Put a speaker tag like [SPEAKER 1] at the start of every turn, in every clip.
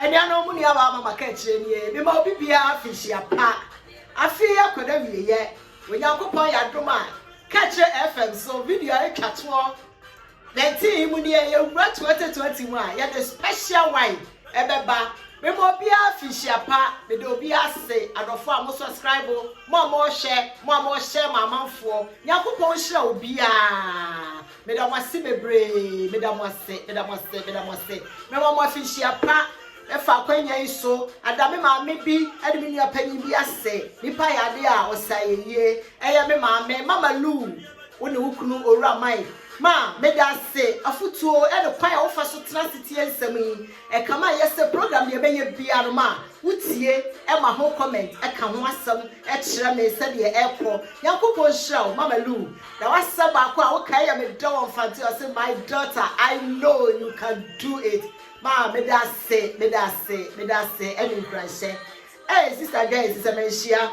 [SPEAKER 1] Anuanom mo nuawa ama maka akyire nie, mema obi biara afenhyia pa, afe yi akɔ n'awieɛ, Onyankopɔn yɛ adom a, ka kyerɛ FM so, video a ɛtwa toɔ 19 yi mu nie, yɛwura 2020 mu a, yɛde special wine ɛbɛba, mema obiara afenhyia pa, meda obiara ase, adɔfoɔ a mo sɔskraibo, mo a mo hwɛ, mo a mo hyɛ ma amanfoɔ, Nyankopɔn nhyira obiara. Meda mo ase bebree. Meda mo ase, meda mo ase, meda mo ase. Mema mo afinhyia pa ɛfa akwanya yi so. Ada me maame bi ɛne me nua panyin bi ase. Nipa yɛ ade a ɔsa yɛ yie. Ɛyɛ me maame, Mama Lu, wo ne wo kunu Owura Mike. Ma, meda ase afutuo ɛne kwan a wofa so tena ase tie nsɛm yi. Ɛka ma yɛ sɛ program deɛ ɛbɛyɛ biara no ma wo tie ɛma ho comment ɛka ho asɛm ɛkyerɛ me sɛdeɛ ɛkɔ. Nyankopɔn nhyira wo Mama Lu. Na w'asɛm baako a wo kae yɛ me dɛ wɔ mfante ɔse my daughter I know you can do it maa meda ase meda ase meda ase ɛne nkuranhyɛ ee sister Joyce sɛ manhyia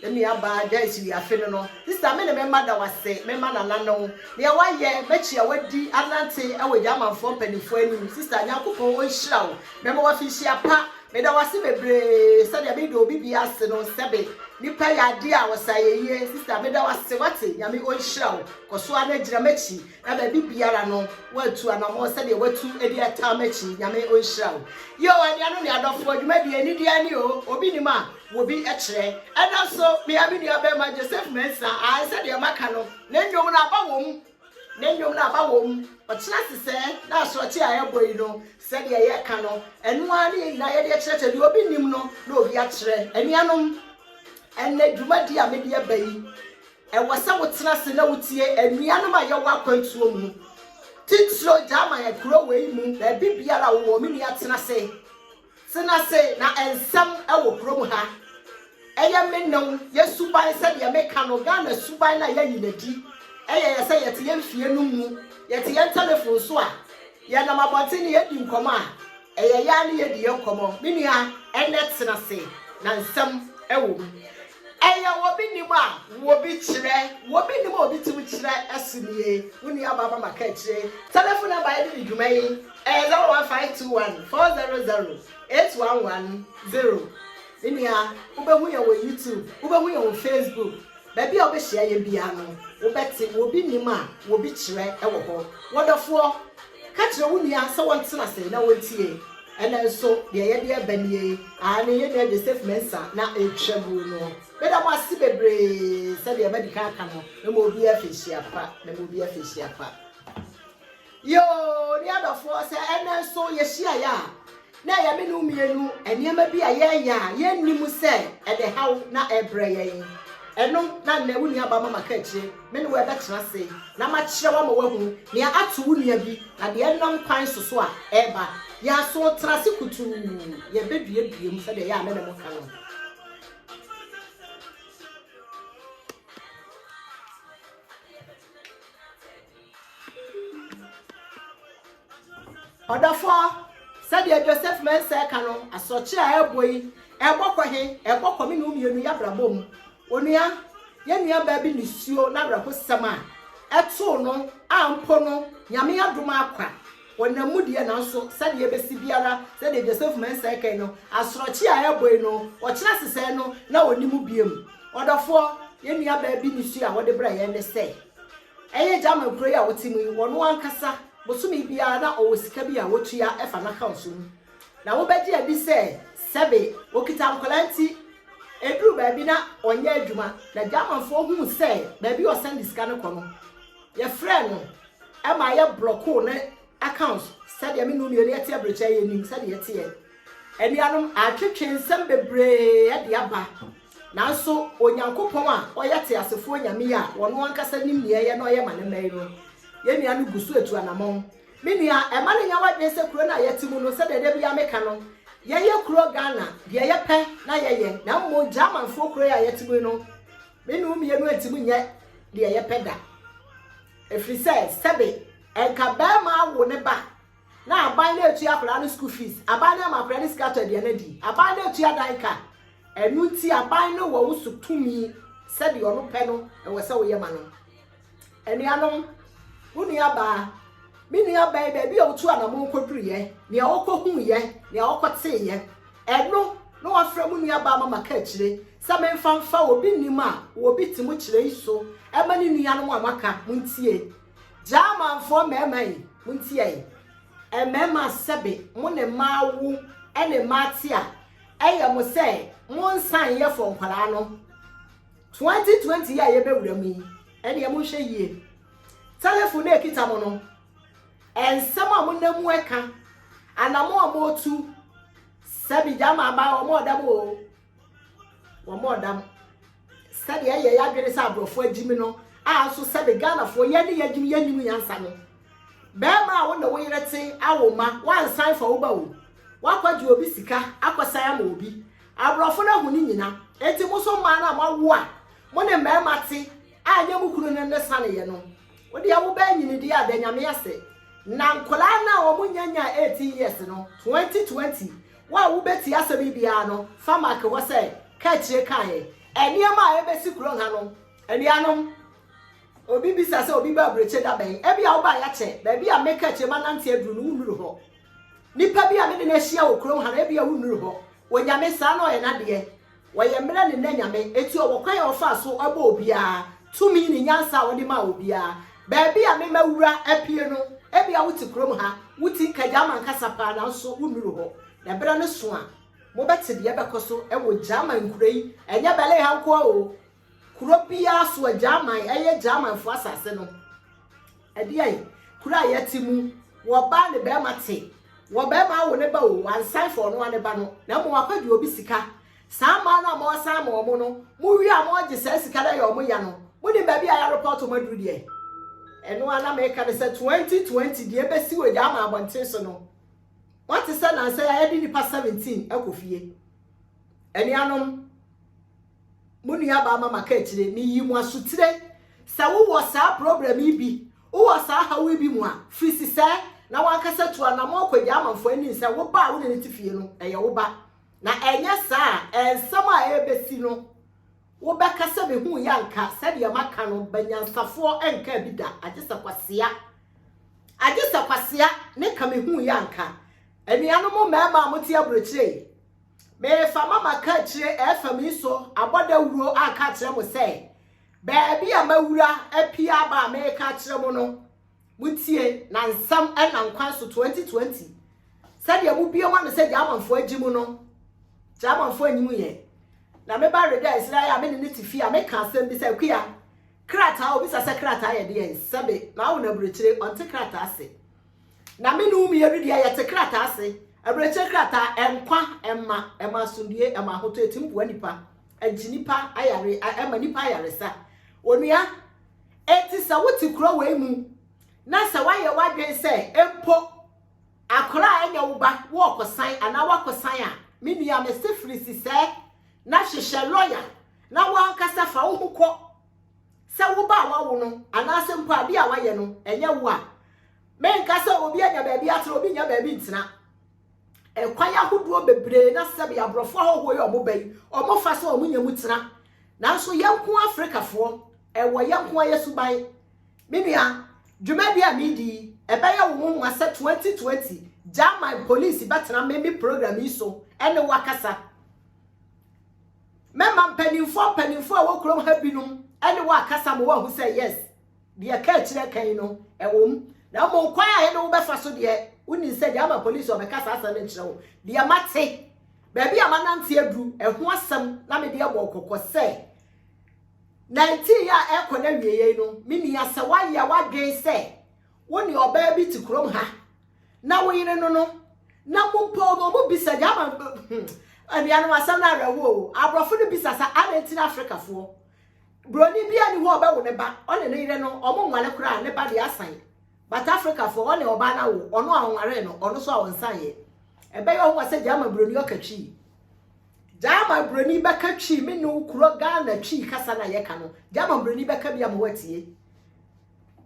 [SPEAKER 1] me nua baa Joyce wi afe no no sister me ne me mma da wase me mma nana no nea wayɛ mɛkyi a wadi anante ɛwɔ gya amanfoɔ mpanimfoɔ anim sister nyankopɔn ɔnhyira wo mɛma wafinhyia pa Meda wo ase bebree sɛdeɛ me de obi bi ase no sɛbe nipa yɛ adeɛ a ɔsa yɛ yie sister meda wo ase wate nyame ɔnhyira wo kɔso ara na gyina m'akyi na baabi biara no woatu anamɔ sɛdeɛ watu ɛde ɛtaa m'akyi nyame ɔnhyira wo yoo anuanom ne adɔfoɔ dwumadie anideɛ ni o obi nim a wɔbi kyerɛ ɛna nso mea me nua bɛrima Joseph Mensah ae sɛdeɛ maka no ne nnwom no aba wɔ mu Ne nnwom no aba wom. Ɔkyena nsesɛɛ ne asorɔkye a ɛrebɔ yi no, sɛdeɛ yɛreka no, ɛno ara ne yɛn nyinaa yɛde rekyerɛ sɛ deɛ obi nnim no na obi akyerɛ. Anuanom, ɛnnɛ dwumadie a mede aba yi, ɛwɔ sɛ wotena ase na wotie anuanom a yɛwɔ akwantuo mu, titire German kuro wei mu, baabi biara a wowɔ, me nua tena ase. Tena ase na nsɛm wɔ kurom ha. Ɛyɛ me ne wo, yɛ suban sɛdeɛ me ka no, Ghana suban no a yɛayi no adi. Ɛyɛ yɛ sɛ yɛte yɛn fie no mu, yɛte yɛn telephone so a, yɛnam abɔnten na yɛdi nkɔmɔ a, ɛyɛ yɛ ara ne yɛdi yɛn nkɔmɔ. Me nua, ɛnnɛ tena ase na nsɛm wɔ mu. Ɛyɛ obi nim a obi kyerɛ, obi nim a obi tim kyerɛ so nie. Wo nuabaa Mama Kaakyire. Telephone number yɛde di dwuma yi. Ɛyɛ zero one five two one four zero zero eight one one zero me nua wobɛhu yɛn wɔ YouTube wobɛhu yɛn wɔ Facebook baabi a wobɛhyia yɛn biara no wobɛte wɔ obi nim a wɔ obi kyerɛ wɔ hɔ wɔdɔfoɔ ka kyerɛ wo nua sɛ wɔntena ase na wɔntie ɛnɛ nso deɛ yɛde ɛba nie aane yɛn nua Joseph Mensah na ɛtwa guo no meda mo ase bebree sɛdeɛ madi kan aka no na ma obi afɛhyia pa na ma obi afɛhyia pa. Yoo ne adɔfoɔ sɛ ɛnɛ nso yɛhyiaeɛ a, na ɛyɛ me ne wo mmienu nneɛma bi a yɛreyɛ a yɛnnim sɛ ɛde haw na ɛrebrɛ yɛn. Ɛno na nnɛ wo nuabaa ma maka akyire. Me ne wo ɛbɛtena ase na makyerɛ wo ama woahunu nea ato wo nua bi na deɛ ɛnam kwan so so a ɛreba. Yɛn aso tena ase kutuu, yɛbɛduadua mu sɛdeɛ ɛyɛ a me ne mo ka no. Ɔdɔfoɔ, sɛdeɛ Joseph Mensah ka no, asorɔkye a ɛrebɔ yi, ɛrebɔ kɔ he? Ɛrebɔ kɔ me ne wo mmienu y'abrabɔ mu. Onua, yɛn nuabaa bi nisuo n'awerɛhosɛm a ɛtoo no a mpo no Nyame adom akwa Wɔnam mu deɛ, nanso sɛdeɛ ɛbɛsi biara, sɛdeɛ Joseph Mensah kae no, asorɔkye a ɛrebɔi no, ɔkyena sesɛɛ no na ɔnni mu biom. Ɔdɔfoɔ, yɛn nuabaa bi ne su a ɔde brɛ yɛn ne sɛ, ɛyɛ German kuro yi a ɔte mu yi, ɔno ankasa, bosome biara na ɔwɔ sika bi a ɔtua fa n'account mu. Na wobɛgye adi sɛ, sɛbe, ɔkita nkwadaa nti, ɛduru baabi na ɔnyɛ adwuma, na Germanfoɔ hu sɛ baabi a ɔsɛnde sika no kɔ no, Yɛfrɛɛ no ma yɛ blɔkoo ne accounts sɛdeɛ me ne omienu yɛte abirikyɛ yɛnim sɛdeɛ ɛteɛ. Anuanom atwetwe nsɛm bebree de aba nanso Onyankopɔn a ɔyɛ teasefoɔ Nyame yi a ɔno ankasa nim nea ɛyɛ na ɔyɛ ma ne mma yi no, yɛn nua no gu so atu anamɔn. Me nua, ɛma no nya w'adwene sɛ kuro no a yɛte mu no sɛdeɛ da biara meka no, yɛyɛ kuro Ghana, deɛ yɛpɛ na yɛyɛ na mmom Germanfoɔ kuro yi a yɛte mu yi no Me ne wo mmienu antumi nyɛ deɛ yɛpɛ da. Ɛfiri sɛ, sɛbe anka barima awo ne ba na aban na ɛtua akwadaa no school fees, aban na ɛma akwadaa no sika tɔ aduane adi, aban na ɛtua dan ka. Ɛno nti aban no wɔ wo so tumi sɛdeɛ ɔno pɛ no ɛwɔ sɛ woyɛ ma no. Anuanom, wo nuabaa, me nuabaa yi, baabi a otu anamon koduruiɛ, nea ɔkɔhuiɛ, nea ɔkɔteeɛ, ɛno na wafrɛ mo nuabaa ma maka akyire sɛ memfa mfa obi nnim a wɔ obi te mo kyerɛ yi so ɛma ne nuanom a moaka montie. Germanfoɔ mmarima yi, montie yi. Mmarima sɛbe mo ne mmaa awo ne mmaa te a, ɛyɛ mo sɛ monsan yɛ fɔ nkwadaa no. Twenty twenty yi a yɛbɛwura mu yi, ɛnneɛ monhwɛ yie. Telefon a ɛkita mo no, nsɛm a monam mu ɛka, anamɔ a motu, sɛbi gyama aba wɔn ɔdam o, wɔn ɔdam. Sɛdeɛ ɛyɛ yɛadwene sɛ aborɔfo agyimi no, a nso sɛbi Ghanafoɔ yɛn ne yɛagyimi yɛnnim nyansa no. Bɛrima a wo ne wo yere te, awo mma, woansan fa wo ba o, woakɔgye obi sika akɔsan ama obi, Aborɔfo no ahu ne nyina. Enti mo nso mmaa no a moawo a mo ne mmarima te a ɛnyɛ mo kunu no ne saneeɛ no, wo deɛ wobɛɛ nyini deɛ a, da Nyame ase. Na nkwadaa no a wɔn nya nyaa 18 years no, 2020, wo a wobɛtie asɛm yi biara no, fa marke hɔ sɛ, Ka akyire kaeɛ. Nneɛma a ɛbɛsi kuro ha no, anuanom, obi bisa sɛ obi ba aburokyire da bɛn? Ebia wobaeɛ akyɛ, baabi a meka akyire manante aduru no wonnuru hɔ. Nipa bi a me ne no ahyia wɔ kurom ha no, ebia wonnuru hɔ. Onyame, saa na ɔyɛ n'adeɛ. Ɔyɛ mmerɛ ne nna Nyame, enti ɔwɔ kwan a ɔfaa so bɔɔ obiara, tumi ne nyansa a ɔde maa obiara. Baabi a me mawura apue no, ebia wote kurom ha, wote Nkagyaama ankasa paa nanso wonnuru hɔ. Na berɛ no so a, mobɛte deɛ ɛbɛkɔ so wɔ Gyaama nkuro yi, ɛnyɛ Berlin ha nko ara o, Kuro biara so agyaman, ɛyɛ Germanfoɔ asase no. Ɛdeɛ yi, kuro a yɛte mu, wɔbaa ne bɛrima te, wɔbɛrima awo ne ba o, wansan fa ɔno ane ba no, na mmom akɔgye obi sika. Saa mmaa no a mɔɔsan ma ɔmo no, mo wie a mɔɔgye saa sika no ayɛ ɔmo ya no, mo nim baabi a yɛ arepɔɔto mo aduru deɛ? Ɛno ara na meka no sɛ 2020 deɛ ɛbɛsi wɔ German abɔnten so no, moate sɛ nansa yi a yɛde nnipa 17 akɔ fie. Anuanom. Mo nuabaa Mama ka akyire, meyi mo asutire sɛ wo wɔ saa program yi bi, wo wɔ saa haw yi bi mu a, firi sisɛɛ na wo ankasa tu anamɔn kɔ gyaa amanfoɔ anim sɛ wo ba a wo ne no te fie no ɛyɛ wo ba. Na ɛnyɛ saa a, ɛnsɛm a ɛrebɛsi no wo bɛka sɛ me huu yɛ anka sɛdeɛ maka no banyansafoɔ nkaa bi da agye sɛ kwasea, agye sɛ kwasea ne ka me huu yɛ anka. Anuanom mmarima a mo te aburokyire yi. Meefama maka akyire ɛfa me nso abɔ dawuro aka akyerɛ mo sɛ, baabi a mawura apia aba a meeka akyerɛ mo no, motie na nsɛm ɛna nkwan so 2020 sɛdeɛ mobie mo ano sɛ Gyamanfoɔ agye mu no, Gyamanfoɔ anyi mu yɛ. Na me ba reda nsira yɛ a me ne ne te fie a meka asɛm bi sɛ, Akua, krataa, obisa sɛ krataa yɛ deɛn, sɛbe, na awo no aburokyire, ɔnte krataa ase. Na me ne wo mmienu deɛ, yɛte krataa ase, awerɛkyerɛ krataa, nkwa, ɛma, ɛma asomdwoeɛ, ɛma ahotɔ, ɛtumi boa nnipa, ɛgye nnipa ayare, ɛma nnipa ayaresa. Onua, enti sɛ wote kuro wei mu, na sɛ woayɛ w'adwene sɛ, mpo, akora a ɛnyɛ wo ba, woɔkɔsan, anaa woakɔsan a, me nua, mese firi sisɛɛ, na hwehwɛ lɔya, na woankasa fa wo ho kɔ, sɛ wo ba a woawo no anaasɛ mpo adeɛ a woayɛ no, ɛnyɛ wo a, menka sɛ obi anya baabi atena, obi nya baabi ntena. Ɛkwan ahodoɔ bebree na sɛbe aborɔfo ahɔhoɔ yi ɔmo ba yi, ɔmo fa sɛ ɔmo nya mu tena. Nanso yɛn nko Afrikafoɔ, ɛwɔ yɛn nko yɛ suban. Me nua, dwumadie a meredi yi, ɛbɛyɛ wo nwonwa sɛ 2020 German polisi bɛtena me me program yi so ɛne wo akasa. Mɛma mpaninfoɔ mpaninfoɔ a ɛwɔ kurom ha binom ne wo akasa ma woahu sɛ, yes, deɛ ka akyire ka yi no, ɛwom. Na mmom kwan a yɛne wo bɛfa so deɛ, wonim sɛ deɛ ama polisi ɔbɛka saa asɛm no nkyerɛ wo, deɛ mate, baabi a manante aduru, ɛho asɛm na mede abɔ wo kɔkɔ sɛ, 19 a ɛrekɔ n'awieeɛ yi no, menni asɛ woayɛ w'adwene sɛ wo ne ɔbaa bi te kurom ha na wo yere no no na mobɔ mu ɔmo bisa deɛ ama anuanom asɛm no awerɛho o aborɔfo no bisa sa adɛn ti na afrikafoɔ buroni bi ani hɔ ɔbɛwo ne ba ɔne ne yere no ɔmo nwale koraa ne ba deɛ asan but afrikafoɔ ɔne ɔbaa no awo ɔno a ɔnwaree no ɔno so a ɔnsan yɛ ɛbɛyɛ ɔho sɛ gyama buroni ɔka twi gyama buroni bɛka twi me ne wo kuro ghana twi kasa na yɛka no gyama buroni bɛka bi ama watie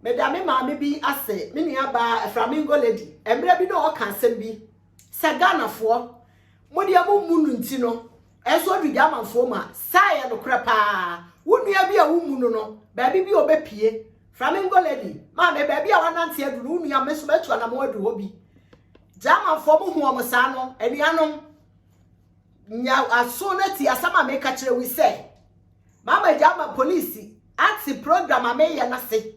[SPEAKER 1] Meda me maame bi ase, me nuabaa Flamingo Lady, mmerɛ bi na ɔka asɛm bi sɛ Ghanafoɔ, mo deɛ mo mmu no nti no, ɛnso ɔduru Gyamanfoɔ mu a, saa ɛyɛ nokorɛ paa. Wo nua bi a wo mmu no no, baabi bi a ɔbɛpie, Flamingo Lady, maame, baabi a wanante aduru no, wo nua, me nso mɛtu anamɔn aduru hɔ bi. Gyamanfoɔ mo hu wɔn saa no, anuanom, nya aso na ti asɛm a meka kyerɛ wi sɛ, Mama gya ama polisi ate program a meyɛ no ase.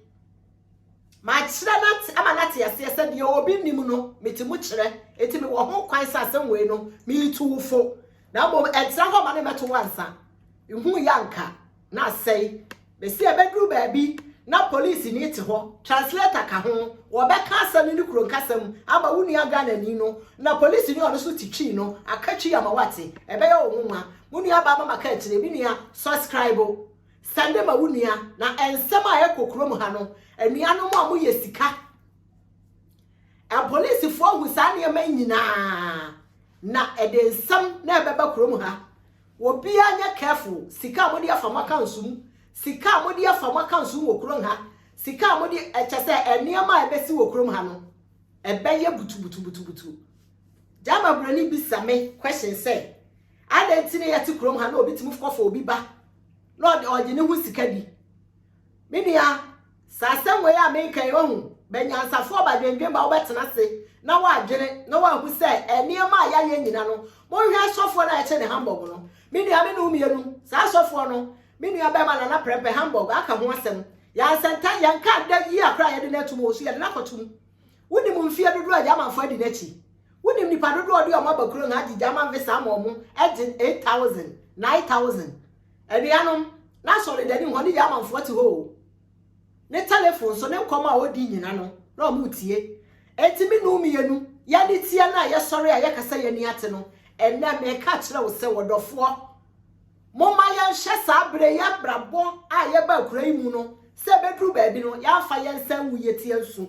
[SPEAKER 1] Makyerɛ no ate ama no ate aseɛ sɛ deɛ obi nnim no mete mu kyerɛ. Eti mewɔ ho kwan sɛ asɛm wei no meretu wo fo. Na mmom ɛntra hɔ ma ne mmɛto wo ansa. Nhu yɛ anka na asɛe. Mesi ɛbɛduru baabi na polisi ni te hɔ, translator ka ho, wɔbɛka asɛm no ne kuro nkasa mu ama wo nua Ghanani no na polisi ni ɔno nso te twi no aka twi ama wate. Ɛbɛyɛ wo nwonwa. Wo nua baa mama ka akyire me nua suscribe sɛnde ma wo nua na ɛnsɛm a ɛkɔ kurom ha no anua no mu a mo yɛ sika ɛpolisifoɔ ahu saa nneɛma nyinaa na ɛde nsɛm na ɛbɛba kurom ha obiara nyɛ careful sika a mo de afa mo aka nsum sika a mo de afa mo aka nsum wɔ kurom ha sika a mo de ɛkyɛ sɛ nneɛma a ɛbɛsi wɔ kurom ha no ɛbɛyɛ butubutubutubutu gyama buroni bi sa me question sɛ Adɛn nti na yɛte kurom ha na obi tumi kɔfa obi ba na ɔde ɔgye ne ho sika di? Me nua, saa asɛm wei a meka yi wahu, bɛ nyansafoɔ ba dwendwen ba wobɛtena ase na woadwene na woahu sɛ nneɛma a yɛayɛ nyina no, monhwɛ asɔfoɔ no a yɛkyɛ ne Hamburg no. Me nua, me ne wo mmienu, saa asɔfoɔ no, me nua bɛrima Nana Prɛmpɛ, Hamburg, aka ho asɛm. Yɛansɛnta, yɛnka da yi a koraa yɛde no atom wɔ so, yɛde no akɔtom. Wonim mfeɛ dodoɔ a Germanfoɔ adi n'akyi? Wonim nnipa dodoɔ a wɔde wɔn aba kurom ha gye German visa ama wɔn, gye 8,000, 9,000? Anuanom, n'asɔredani mu hɔ ne Germanfoɔ te hɔ o. Ne telefon so, ne nkɔmmɔ a ɔdi nyina no, na wɔretie. Enti me nu mmienu, yɛde teɛ no a yɛsɔre a yɛka sɛ yɛn ani ate no, ɛnnɛ mereka akyerɛ wo sɛ, ɔdɔfoɔ, Momma yɛnhwɛ saa bere yɛn abrabɔ a yɛba akuraa yi mu no sɛ ebeduru baabi no yɛamfa yɛn nsa angu yɛn ti ansu.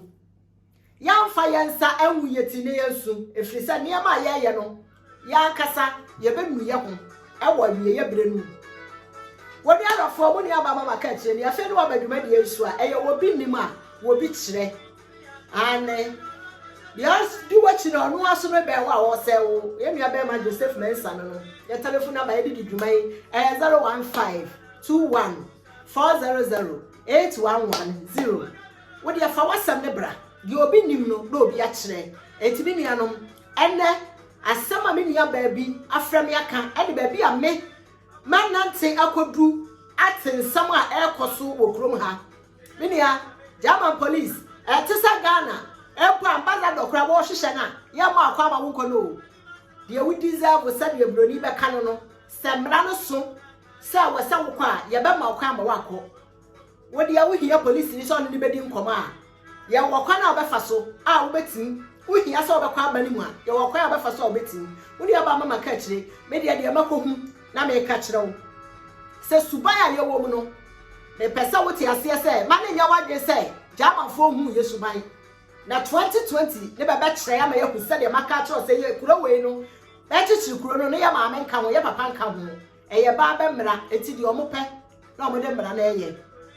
[SPEAKER 1] Yɛamfa yɛn nsa angu yɛn ti na yɛansu, ɛfiri sɛ nneɛma a yɛreyɛ no, yɛn ankasa yɛbɛnu yɛn ho wɔ awieeɛ berɛ no mu. Wo nuawafoɔ mu nuabaa Mama ka akyire ni, afei ne waba dwumadie nso a, ɛyɛ obi nim a, obi kyerɛ. Aane, deɛ ɔdi w'akyi no, ɔno ara nso no bɛn wo a ɔresɛe wo. Yɛn nua barima Joseph Mensah no no, yɛ telefon namba yɛde di dwuma yi, ɛyɛ 01521 400 8110. Wo deɛ fa w'asɛm no bra, deɛ obi nim no na obi akyerɛ. Enti me nuanom, ɛnɛ asɛm a me nua baa bi afrɛ me aka ɛde baabi a me manante akɔduru ate nsɛm a ɛrekɔ so wɔ kurom ha. Me nua, German police ɛte sɛ Ghana mpo ambassador koraa wɔhwehwɛ no a yɛmma ɔkwan ma wonkɔ no o. Deɛ wo deserve sɛdeɛ broni bɛka no no, sɛ mmara no so sɛ ɛwɔ sɛ wokɔ a yɛbɛma wo kwan ma woakɔ. Wo deɛ wohia polisini sɛ ɔne no bɛdi nkɔmmɔ a yɛwɔ kwan a wobɛfa so a wobɛtumi, wohia sɛ wobɛkɔ aba no mu a yɛwɔ kwan a wobɛfa so a wobɛtumi. Wo deɛ ba mɛma ka akyire, me deɛ deɛ mɛkɔhu. Na meka kyerɛ wo sɛ suban a yɛwɔ mu no, mepɛ sɛ wote aseɛ sɛ mma no nyɛ w'adwene sɛ Germanfoɔ nhuu yɛn suban. Na 2020 no bɛbɛkyerɛ ama yɛahu sɛdeɛ maka akyerɛ wo sɛ yɛ kuro wei no, bɛkyekyere kuro no no yɛ maame nka ho, yɛ papa nka ho. Ɛyɛ baa bɛ mmara, enti deɛ wɔpɛ na wɔde mmara no yɛ.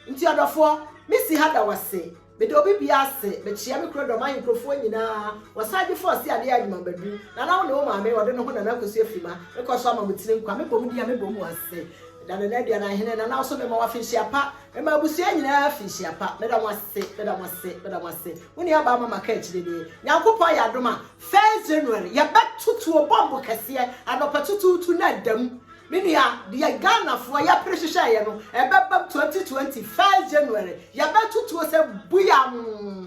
[SPEAKER 1] Nti ɔdɔfoɔ, mesi ha da wo ase. Meda obi bia ase, mekyea me kuro dɔm ahenkurofoɔ nyinaa, wɔsan gye fɔ ɔse adeɛ adwuma badu, nana wo ne wo maame, wɔde no ho nana kosua firima, me kɔ so ama mo tiri nkwa, me bɔ mo din a me bɔ mo ase, meda nana aduanan hene, nana wo so me ma wo afinhyia pa, me ma abusua nyinaa afinhyia pa, me da mo ase, me da mo ase, me da mo ase, mo nua baa mama ka akyire nie, nyankopɔn ayɛ adom a, first January, yɛbɛ to tuo bɔmbo kɛseɛ, anɔpa tutuutu na ada mu, Me nua, deɛ Ghanafoɔ yɛpere hyehyɛeɛ no, ɛbɛbam 2020 first January, yɛbɛto tuo sɛ buiamm.